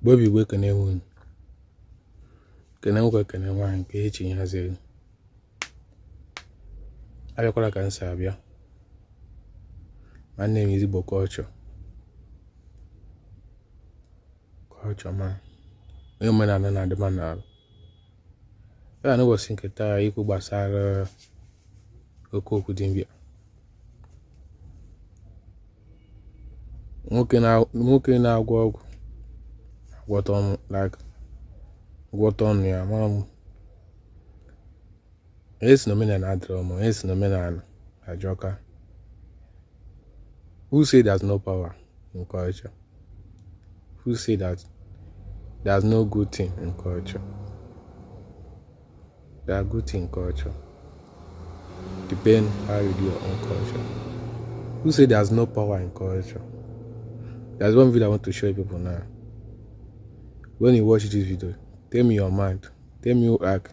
Igbo bụ Igbo ekene m unu kene nwoke kene nwaanyị nke echi haziri abịakwala ka m si abịa my name is Igbo culture culture man onye omenala na-adị mma n'ala ya na ụbọchị nke taa ikwu gbasara oke okwu dibịa nwoke na-agwọ ọgwụ agwọta ọnụ ya mara m onye si na omenala adịrọ mma onye si na omenala ajọka who say there's no power in culture who say that there's no good thing in culture there are good thing in culture depend how you do your own culture who say there's no power in culture there's one video i want to show you people now when you watch this video tell me your mind tell me who act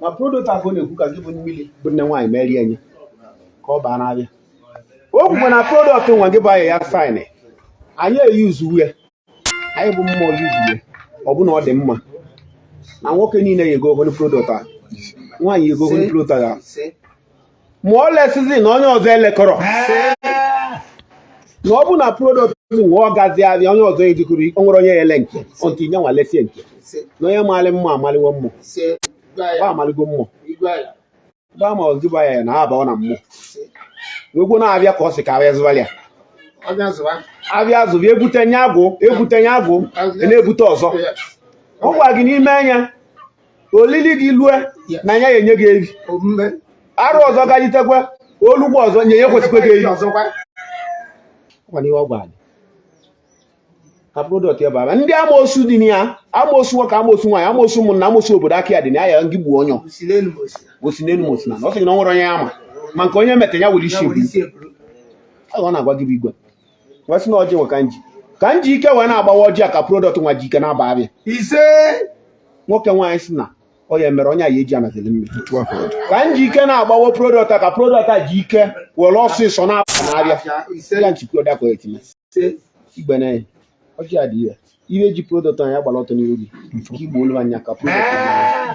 na product ahụ na-ekwu ka gị bụ mmiri bụ nne nwaanyị merie nye ka ọ baa n'avịa o kwukwa na product nwa gị bụ Ayaya fine anyị eyuzu uwe anyị bụ mmụọ yuzu uwe ọ bụ na ọ dị mma na nwoke niile ya ego ogoni product a nwaanyị ego ogoni product a ma ọ lesizi na onye ọzọ elekọrọ na ọ bụ na product nwa ọ gazi avịa onye ọzọ ejikọrọ o nwere onye ele nke otu inye nwa lesie nke na onye maalị mma amaliwo mmụba amaligo mmụba ma ọ zụba ya na abaọ na mmụ wegwo na-abịa ka ọ sị ka avịa zụba ya avịa zụba ebute nye agwụ ebute nye agwụ na-ebute ọzọ ọ gwa gị n'ime anya olili gị lue na ya enye gị evi arọ ọzọ gajitekwa olugbo ọzọ nye ya kwesịkwa gị evi ka product ya bara ndị amoosu dị na ya amoosu nwoke amoosu nwaanyị amoosu ụmụnna amoosu obodo aka ya dị na ya ngị gbuo onye o si n'elu ma o si na ọ sị na ọ nwere onye ya ma ma nke onye meta ya were isi ọ na-agwa gị bụ igwe wee sị na ọjị nwa ka m ji ka m ji ike wee na-agbawa ọjị a ka product nwa ji ike na-aba avịa ise nwoke nwaanyị si na ọ ya mere onye a ya eji anazili mmiri ka m ji ike na-agbawa product a ka product a ji ike were ọsịsọ na-aba n'avịa ya nchikwa ọdakọ etinye igbe na ya ọjị a dị ya ihe ji product anyị agbara ọtọ n'ihu gị ka igbo olu anya ka product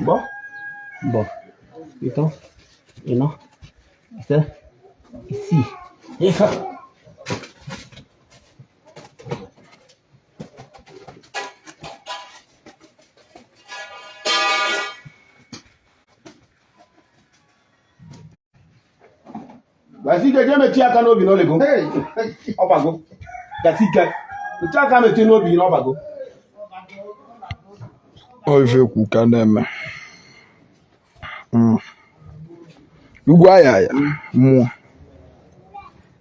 Bo? Bo. Ito? Ino? Isa? Isi. Isa. basi ike jee metụ aka n'obi na o lego ọ bago basi ike metụ aka metụ n'obi gị na ọ bago Ọ ife kwu ka na-eme Mm. Ugwu Ayaya mmụọ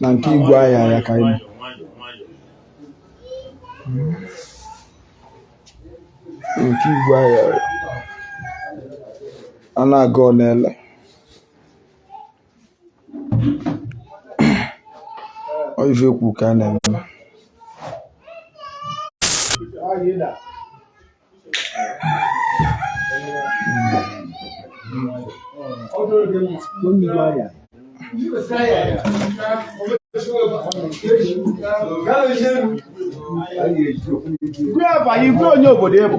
na nke Ugwu Ayaya ka anyị nke Ugwu Ayaya a na-agọ ọ na-ele ọ ife ekwu ka a na-eme Igwe onye obodo ebu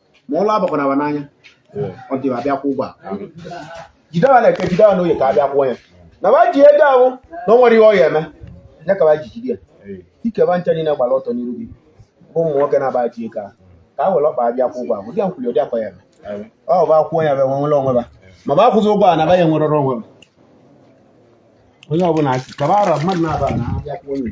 ma ụla abakwana wa n'anya until a bịa kwụọ ụgwọ jide wa n'eke jide wa n'oye ka abịa kwụọ ya na ba ji ego ahụ na o nwere ihe ọ ya eme ya ka ba ji jide ya dịka ba ncha niile gbara ọtọ n'iru gị bụ ụmụ nwoke na ba ji ego ahụ ka a were ọkpa abịa kwụọ ụgwọ ahụ dị ya nkwuli ụdị akwa ya eme ọ bụ akwụọ ya ba enwere onwe ba ma ba akwụzi ụgwọ a na ba ya enwerọrọ onwe ba onye ọbụla kaba ara mmadụ na ba na-abịa kwụọ ya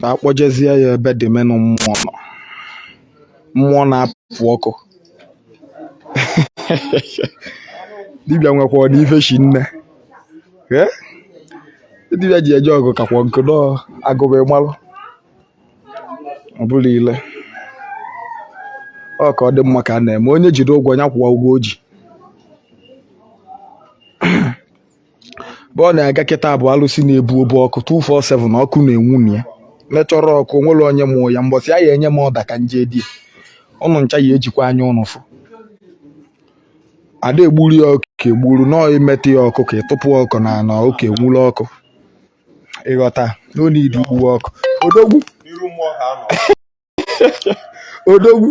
ka akpọjezie ya ebe dị menụ mmụọ nọ mmụọ na-apụ ọkụ dibịa nwekwa n'ife shinne dibịa ji eje ọgụ kakwa nkọ dị agụba ịmalụ ọ bụla ile ọ ka ọ dị mma ka a na-eme onye jide ụgwọ ya kwụwa ụgwọ o ji bụ ọ na-aga kịta bụ alụsị na-ebu obu ọkụ 247 na ọkụ na-enwu na ya mechọrọ ọkụ o nwere onye mụọ ya mbọsị a ya enye m order ka nje di ụnụ ncha ya ejikwa anya ụnụ fụ ada egburu ya ọkụkọ egburu nọọ imetụ ya ọkụkọ ịtụpụ ọkụ n'ana ọkụ enwuru ọkụ ịghọta n'onye idi gbuwe ọkụ odogwu odogwu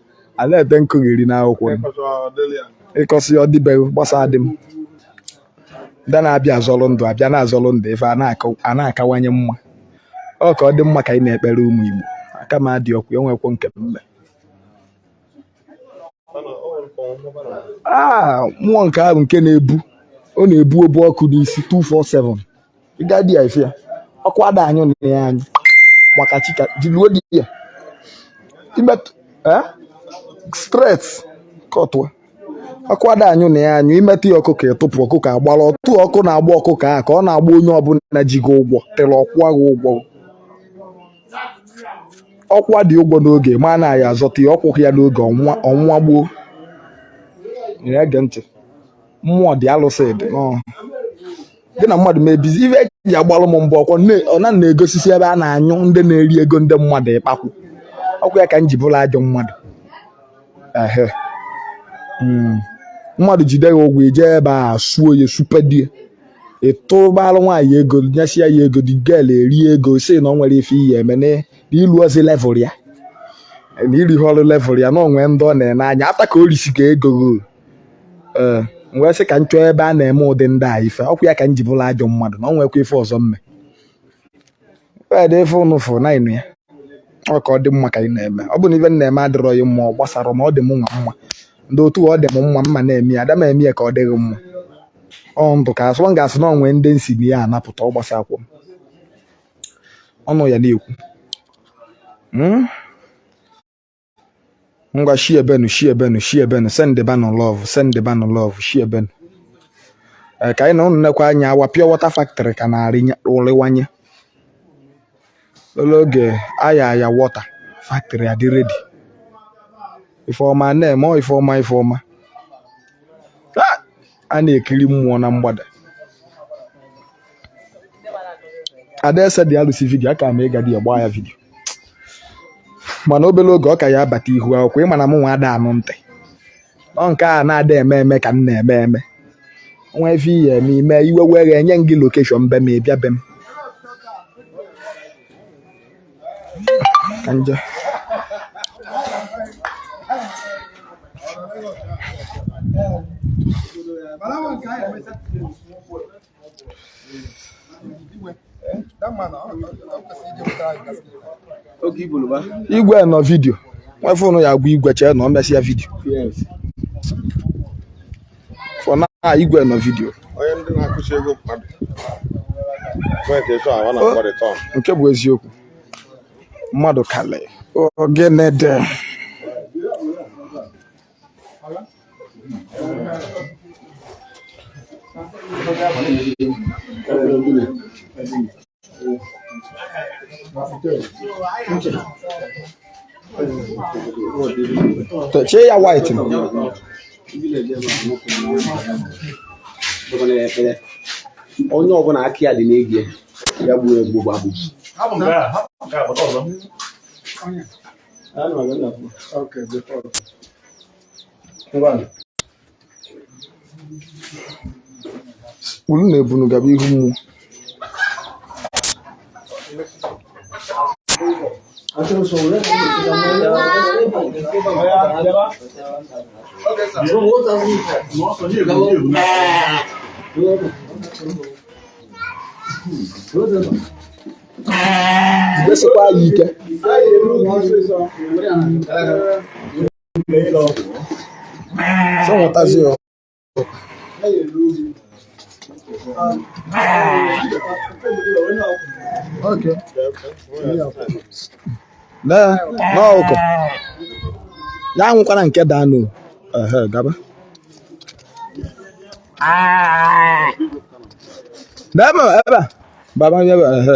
a na-ede nkogheri n'akwụkwọ ịkọsịa ọ dịbeghị gbasadị m ndị na-abịa azọrọ ndụ abịa na-azọrọ ndụ ife a na-akawanye mma ọ ka ọ dị mma ka anyị na-ekpere ụmụ Igbo aka m adị ọkụ enwekwo nke mme ah, mmụọ nke ahụ nke na-ebu ọ na-ebu obu ọkụ n'isi 247 ịga di ya ife ya ọkụ ada anyụ na ya anyụ maka chi ka jiluo di ya imetụ eh? straight kọtụa ọkụ ada anyụ na ya anyụ imetụ ya ọkụkọ ịtụpụ ọkụkọ agbara otu ọkụ na-agba ọkụkọ a ka ọ na-agba onye ọbụla ji gị ụgwọ tere ọ kwụwa gị ụgwọ ọ kwụọ dị ụgwọ n'oge ma na ya azọta ya ọ kwụghị ya n'oge ọ nwụwa gboo na-ege ntị mmụọ dị alụsị dị gị na mmadụ mebizi ife eji agbalụ m mbụ ọkwọ ọ na na-egosisi ebe a na-anyụ ndị na-eri ego ndị mmadụ ịkpakwu ọkwa ya ka m ji bụlụ ajọ mmadụ ehe hmm. mmadụ jide ya ụgwọ ị je ebe a suo ya supedie ịtụbalụ nwaanyị ego nyesịa ya ego the girl eri ego sị na o nwere ife ị ya-eme na ilurọzi level ya na irurọ level ya na o nwe ndị ọ na-ene anya after ka o risi gị ego ee m wee sị ka m chọọ ebe a na-eme ụdị ndị a ife ọkwa ya ka m ji bụlụ ajọ mmadụ na ọ nwekwa ife ọzọ m me wee dị ife ụnụ fụ na ịnụ ya ọ ka ọ dị mma ka ị na-eme ọ bụ na ife m na-eme adịrọ ya mma ọ gbasara m ọ dị m nwa mma ndị otu ọ dị m mma m na-eme ya ada m eme ya ka ọ dị gị mma ọ ndụ ka asụ ọ ga-asụ na o nwe ndị m sị na m ya-anapụta ọ gbasakwa m ọnụ ya na-ekwu Hmm? ngwa share benụ share benụ share benụ send banụ love send banụ love share benụ ee ka anyị na ụnụ nekwa anya our pure water factory ka ọ na-arịwanye obele oge Ayaya water factory adị ready ife ọma na-eme o ife ọma ife ọma a na-ekiri mmụọ na mgbada adaeze dị alụsi vidio aka m ịga dị ya gbaa ya vidio mana obere oge ọ ka ya-abata ihu akwụkwọ ị ma na m nwa ada anụ ntị ọ nke a na-ada eme eme ka m na-eme eme nwe ife ị ya-eme ị mee iwe wee gị enye m gị location be m ị bịa be m Anja. igwe nọ vidio nwe ife ụnụ ya-agwa igwe chee na o mesịa vidio for now ah, igwe nọ vidio onye ndị na-akụchi ego mmadụ nke bụ eziokwu mmadụ kalị ogene dị Chee ya white. onye ọbụla aka ya dị n'egie ya gbuo egbu gbagbu unu na-ebunu gaba ihu mmụọ jidesikwa ya ike Okay. Lee n'ọkụ ya nwụkwara nke danụ ehe gaba ebe a baba nye ebe ehe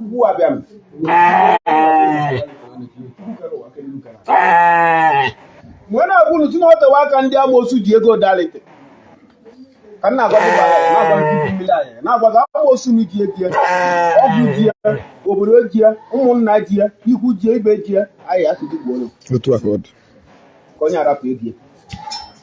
mgbe m na-agwa unu sị na o tewe aka ndị amoosu ji ego dalite ka m na-agwa na-agwa gị amoosu na ji ejie ọgwụ ji ya obodo ji ya ụmụnna ji ya ikwu ji ya ibe ji ya anyị asụsụ gbuo ka onye arapụ ebie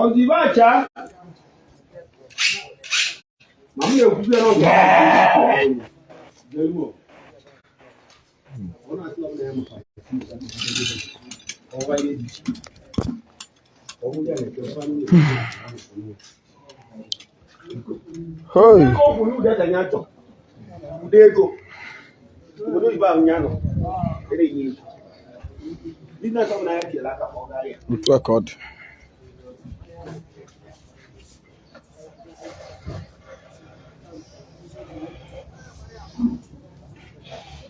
ọdịbacha ma m na-ekwuzie n'oge ọ na-atụ ọbụla ya maka ọwa ihe dị iche ọ wụ ya na-ekwe otu a ka ọ dị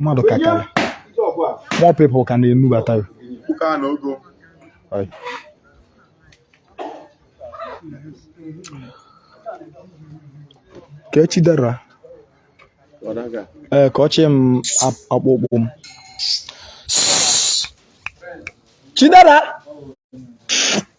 mmadụ ka karị more people ka na-enubata ya ka echi dara ee ka ọchị m akpụkpụ m Chidera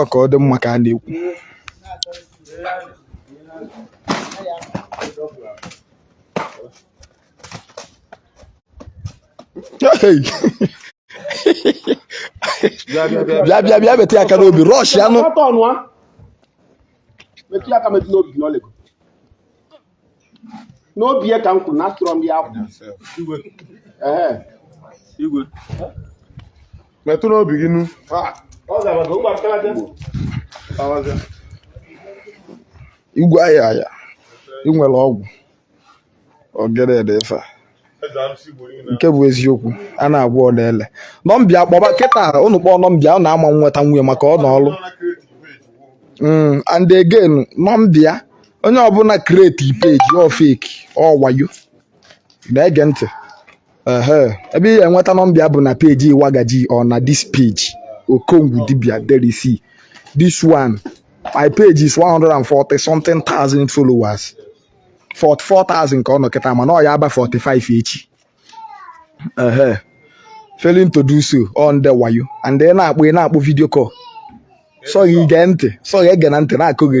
okay ọ dị mma ka a na-ekwu bịa bịa bịa metụ ya aka n'obi rush ya nụ n'obi ya ka m kwuru na atụrọ m ya aka Ehe. Igwe. metụ n'obi gị nu igwe ayaya i nwere ọgwụ ogede dị ife a nke bụ eziokwu a na-agwa ụnụ ele nọmba ya kpọba kịta ụnụ kpọọ nọmba ya ụnụ ama nweta nwunye maka ọ nọ ọrụ mm, and again nọmba ya onye ọbụla create page ọ fake ọ wayo na-ege ntị ebe ị ga-enweta nọmba ya bụ na page Iwagaji or na this page Okongwu dibia that is this one my page is 140 something thousand followers 44,000 ka ọ nọ kịta mana ọ ya aba 45 echi ehe failing to do so ọ ndị wayo and ị na-akpọ ị na-akpọ video call sọ ghị gee ntị sọ ghị egena ntị na-akọgheri